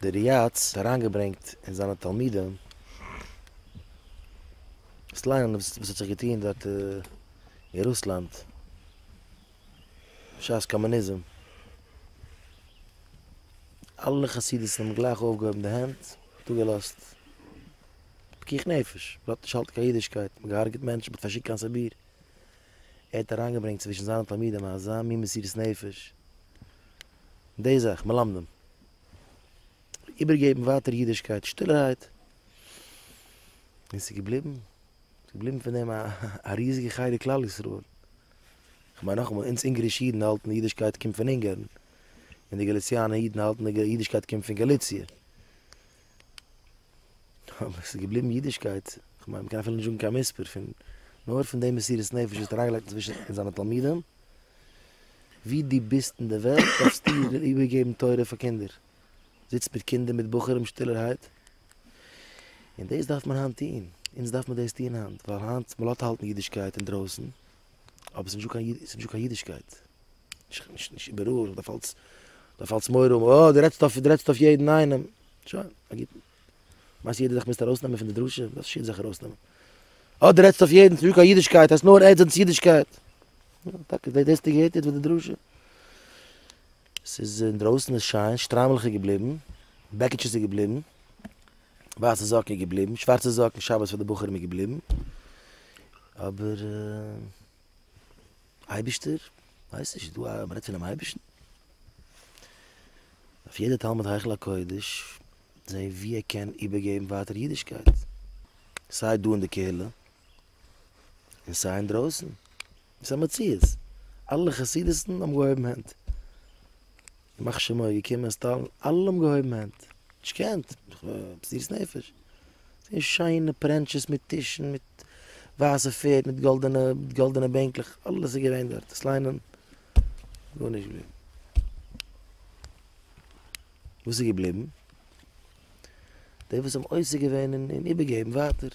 דער ריהצ האט אריינגעברענגט אין זיינע תלמידים דאס לייענען וואס האט זיך געטוהן דארט אין רוסלאנד בשעת קאמוניזם, אלע חסידות'ן האבן גלייך אויפגעהויבן די הענט, דא געלאזט פיקוח נפש, מען האט נישט געהאלטן קיין אידישקייט, מען האט געהארגעט מענטשן, מען האט פארשיקט קיין סיביר, ער האט אריינגעברענגט צווישן זיינע תלמידים אזא מין מסירות נפש, די זאך, מלמדים איבערגעבן ווייטער אידישקייט שטילערהייט, און ס'איז געבליבן, ס'איז געבליבן פון דעם א ריזיגע חלק כלל ישראל. כ'מיין נאכאמאל, אונז אונגערישע אידן האלטן די אידישקייט קומט פון אונגערן, און די גאליציאנע אידן האלטן די אידישקייט קומט פון גאליציע. אבער עס איז געבליבן אידישקייט, איך מיין מ'קען אפילו נישט זאגן קיין מספר פון, נאר פון די מסירות נפש וואס ער האט אריינגעלייגט צווישן זיינע תלמידים, ווי דו ביסט אין די וועלט דארפסטו איבערגעבן תורה פאר קינדער, זיצט מיט קינדער מיט בחורים שטילערהייט, און דאס דארף מען היינט טון, אונז דארף מען דאס טון היינט, ווייל היינט מ'לאזט האלטן אידישקייט אינדרויסן, אבער ס'איז נישט דא קיין אידישקייט, נישט איבעראל, מען דארף אלץ, מען דארף אלץ מורא האבן, אה, דו רעדסט אויף, דו רעדסט אויף יעדן איינעם, שוין, א גוטן. מיינסט יעדער זאך מוזט ארויסנעמען פון די דרשה? וואס דארפסטו יעדן זאך ארויסנעמען? אה, דו רעדסט אויף יעדן, ס'איז נישט דא קיין אידישקייט, הייסט נאר עדס אנטס אידישקייט. יא, טאקע, דאס האסטו געהערט יעצט ביי די דרשה? ס'איז, אינדרויסן איז שיין, שטריימל איז געבליבן, בעקיטשעס איז געבליבן. ווייסע זאקן איז געבליבן, שווארצע זאקן שבת פאר די בחורים איז געבליבן, אבער אייבישטער? ווייס נישט, דא א מ'רעדט פונעם אייבישן? אויף יעדע תלמיד היכל הקודש זעהן ווי ער קען איבערגעבן ווייטער אידישקייט, סיי דא אין די קהילה און סיי אינדרויסן, ס'איז א מציאות, אלע חסידות'ן האבן געהויבן הענט. ימח שמו איז געקומען אין סטאל, אלע האבן געהויבן הענט, נישט געקענט, מסירות נפש, געווען שיינע פרענטשעס מיט טישן, מיט ווייסע פערד, מיט גאלדענע, מיט גאלדענע בענקלעך, אלעס איז געווען דארט, דאס ליינען, גארנישט געווען. וואס איז געבליבן? די וואס האבן עוסק געווען אין איבערגעבן ווייטער.